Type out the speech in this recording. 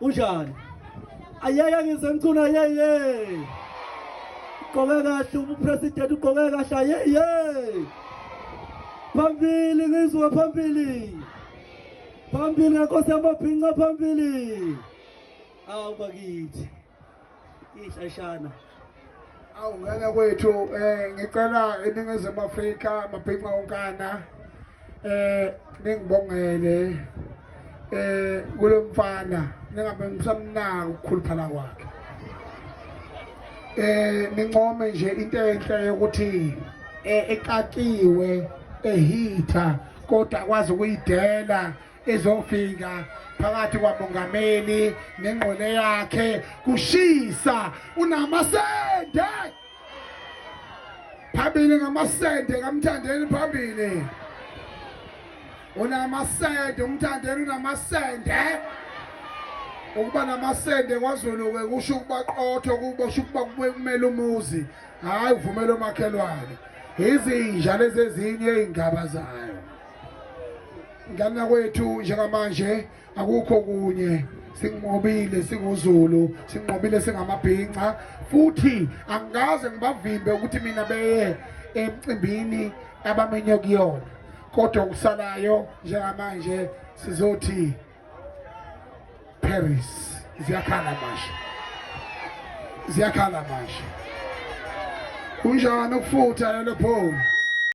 Unjani? Ayeke ngisemcuna yeye. Ugqoke kahle ubupresident ugqoke kahle yeye. Phambili ngizwe phambili. Phambili nkosi yamabhinca phambili. Awu bakithi. iy'hlashana awu ngeke kwethu um ngicela eningizimu afrika mabhinca onkana um ningibongele um kulo mfana ningabe ngisamnaka ukukhuluphala kwakhe um nincome nje into enhle yokuthi um ekakiwe ehitha kodwa akwazi ukuyidela ezofika phakathi kwamongameli nengqole yakhe kushisa unamasende phambili ngamasende kamthandeni phambili unamasende umthandeni unamasende ukuba namasende kwazulu-ke kusho ukuba qotho kubosho ukuba kube kumele umuzi hhayi uvumele omakhelwane izinja lezi ezinye iy'ngaba zayo ngana kwethu njengamanje akukho kunye sinqobile singuzulu sinqobile singamabhinca futhi angikaze ngibavimbe ukuthi mina beye emcimbini abamenye kuyona kodwa okusalayo njengamanje sizothi Paris ziyakhala manje ziyakhala manje kunjani ukufutha lelo phone